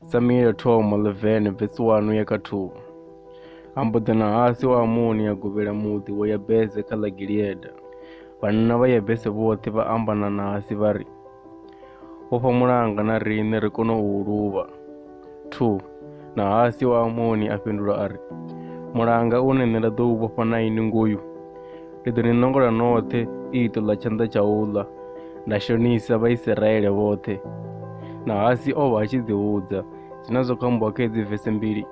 samuele thoma 11 vesi 1 ya kha 2 ambudzana hasi wa amoni ya govhela muḓi wa yabese kha ḽa gilieda vhanna vha yabese vhoṱhe vha ambanana hasi vha ri u fha mulanga na riṋe ri kone u luvha 2 Nahasi wa Amoni a fhindula a ri, Mulanga une nṋe nda ḓo u vhofha na ini ngoyu, ndi ḓo ni ṋongola noṱhe iṱo ḽa tshanḓa tsha u ḽa, nda shonisa Vhaisiraele vhoṱhe. Nahasi o vha a tshi ḓihudza. Zwina zwo kho ambiwa kha hedzi vese mbili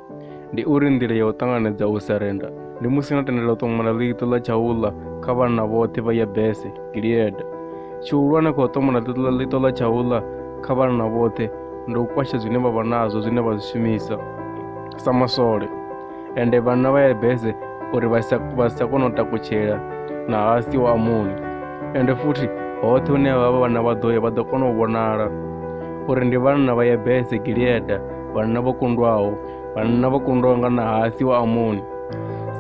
ndi uri nḓila ya u ṱanganedza u sarenda ndi musi no tendela u ṱomola ḽiṱo ḽa tshaula kha vhanna vhoṱhe vha yabese gileada tshihulwane kha u ṱomola ḽiṱo ḽa tshaula kha vhanna vhoṱhe ndi u kwasha zwine vha vha nazwo zwine vha zwi shumisa sa masole ende vhanna vha yabese uri vha sa vha sa kone u takutshela na hasi wa amoni ende futhi hoṱhe hune vha vha vhanna vha ḓo ya vha ḓo kona u vhonala uri ndi vhanna vha yabese gileada vhanna vho kundwaho vhanna vho kundwa nga Nahathi wa Amoni.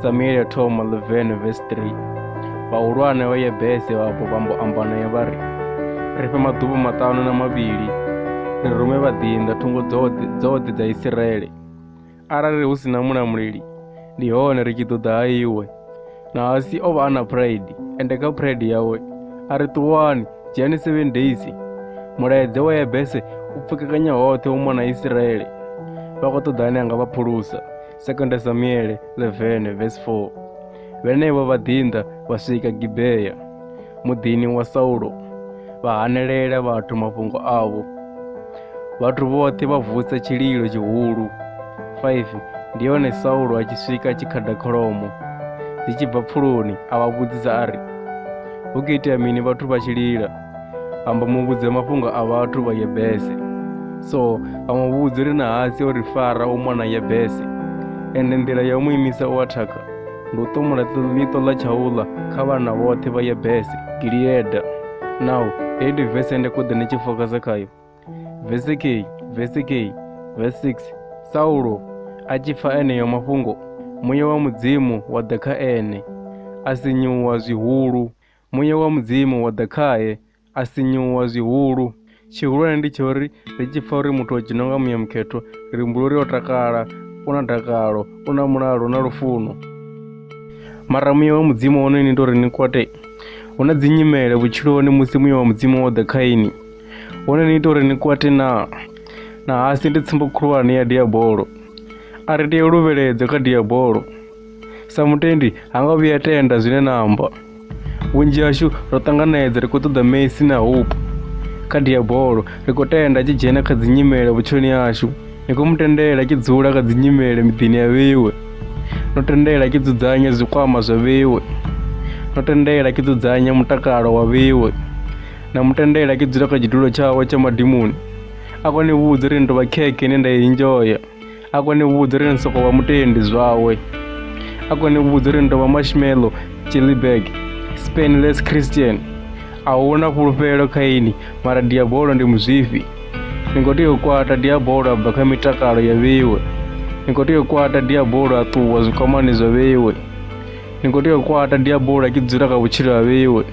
Samuele ya thoma 11 vesi 3 Vhahulwane vha Yebese vhapo vha mbo amba naye vha ri, Ri fhe maḓuvha maṱanu na mavhili, ri rume vhaḓinḓa thungo dzoṱhe dzoṱhe dza Isiraele. Arali hu si na mulamuleli, ndi hone ri tshi ḓo ḓa ha iwe. na asi o vha a na pride ende kha pride yawe a ri ṱuwani dzhiani seven days mulaedze wa yebese u pfukekanya hoṱhe u mona isiraele vha khou ṱoḓa ane a nga vha phulusa sekonda samuele 11 vs 4 vhenevho vha ḓinḓa vha swika gibea muḓini wa Saulo vha hanelela vhathu mafhungo avho. Vhathu vhoṱhe vha vusa tshililo tshihulu. 5 ndi hone Saulo a tshi swika tshikhada kholomo dzi tshi bva pfuloni a vha vhudzisa a ri hu khou itea mini vhathu vha tshi lila amba mu vhudze mafhungo a vhathu vha yebese so a mu vhudzi ri na hasi o ri fara u mona yebese ende nḓila ya u mu imisa u athaka Ndi u ṱumula ḽiṱo ḽa tshaula kha vhana vhoṱhe vha Yebese, Gileada. Naho heyi ndi vese ende kuḓe ni tshi fokasa khayo. Vese kheyi, vese kheyi, vese 6 Saulo a tshi pfa eneyo mafhungo, muya wa Mudzimu wa ḓa kha ene, a sinyuwa zwihulu. Muya wa Mudzimu wa ḓa khae, a sinyuwa zwihulu tshihulwane ndi tsha uri ri tshi pfha uri muthu o dzhena nga muya mukhetho ri humbula uri o takala u na dakalo u na mulalo na lufuno mara muya wa mudzimu wono ni ita uri ni kwate hu na dzinyimele vhutshiloni musi muya wa mudzimu wo ḓa kha ini wono ni ita uri ni kwate na na hasi ndi tsumbo khulwane ya diabolo a ri tea luvheledzo kha diabolo sa mutendi ha nga vhuya tenda zwine na amba vhunzhi hashu ro ṱanganedza ri khou ṱoḓa messi na hope kha diabolo ri khou tenda tshi dzhena kha dzinyimele vhutshiloni hashu ni khou mu tendela tshi dzula kha dzinyimele miḓini ya vheiwe no tendela tshi dzudzanya zwikwama zwa vheiwe no tendela tshi dzudzanya mutakalo wa vheiwe na mu tendela tshi dzula kha tshidulo tshawe tsha madimoni a kone vhudza uri ni tovha khekhe ine nda i enjoya a kone vhudza uri ni soko vha mutendi zwawe a kone vhudza uri ni tovha marshmallow chilibag spanless christian a huna fhulufhelo kha ini mara diabolo ndi muzwifhi ni khou tea u kwata diabolo a bva kha mitakalo ya vheiwe ni khou tea u kwata diabolo a ṱuwa zwikwamani zwa vheiwe ni khou tea u kwata diabola ki dzula kha vhutshilo ha vheiwe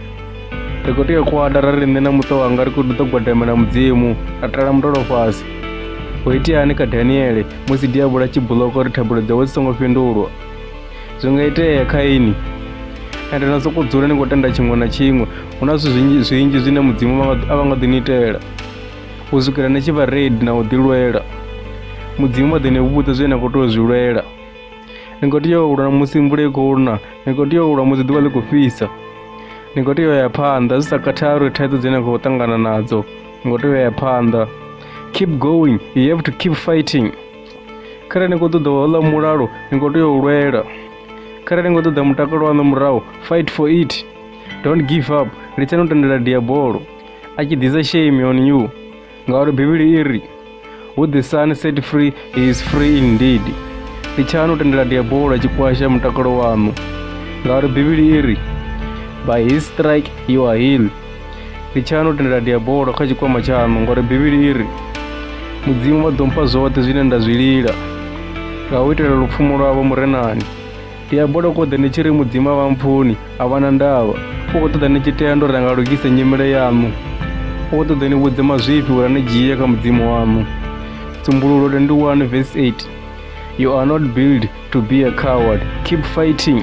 ri khou tea u kwata ra ri nṋe na muṱa wanga ri khou ḓo gwadamela mudzimu ra tala mutolo fhasi ho iteani kha daniele musi diabola tshi buloko uri thabulo dzawe dzi songo fhindulwa zwi nga itea kha ini ende na sokou dzula ni khou tenda tshiṅwe na tshiṅwe hu na zwithu zwinzhi zwinzhi zwine mudzimu vha nga- a vha nga ḓi ni itela u swikela ni tshi vha redi na u ḓilwela mudzimu vha ḓo ni vhudza zwine na khou tea u zwi lwela ni khou tea u lwa musi mvula i khou na ni khou tea u lwa musi ḓuvha ḽi khou fhisa ni khou tea u ya phanḓa zwi sa khathali uri thaidzo dzine na khou ṱangana nadzo ni khou tea u ya phanḓa keep going you have to keep fighting kharali ni khou ṱoḓa hola mulalo ni khou tea u lwela kharali ni khou ṱoḓa mutakalo waṋu murahu fight for it don't give up litsani u tendela diabolo a tshi ḓisa shame on you ngauri bivhili i ri who the sun set free he is free indeed litshani u tendela diabolo tshi kwasha mutakalo waṋu ngauri bivhili i ri by his strike you are heal litshani u tendela diabolo kha tshikwama tshaṋu ngauri bivhili i ri mudzimu vha ḓo mpha zwoṱhe zwine nda zwi lila nga u itela lupfumo lwavho murenani ndi amba ndo koḓa ndi tshi ri mudzimu a vha mpfuni a vha na ndavha u khou ṱoḓa ni tshi tea ndo ri anga lugise nyimele yaṋu u khou ṱoḓa ni vhudze mazwifhi uri ni dzhie kha mudzimu waṋu dzumbululo 21 verse 8 you are not built to be a coward keep fighting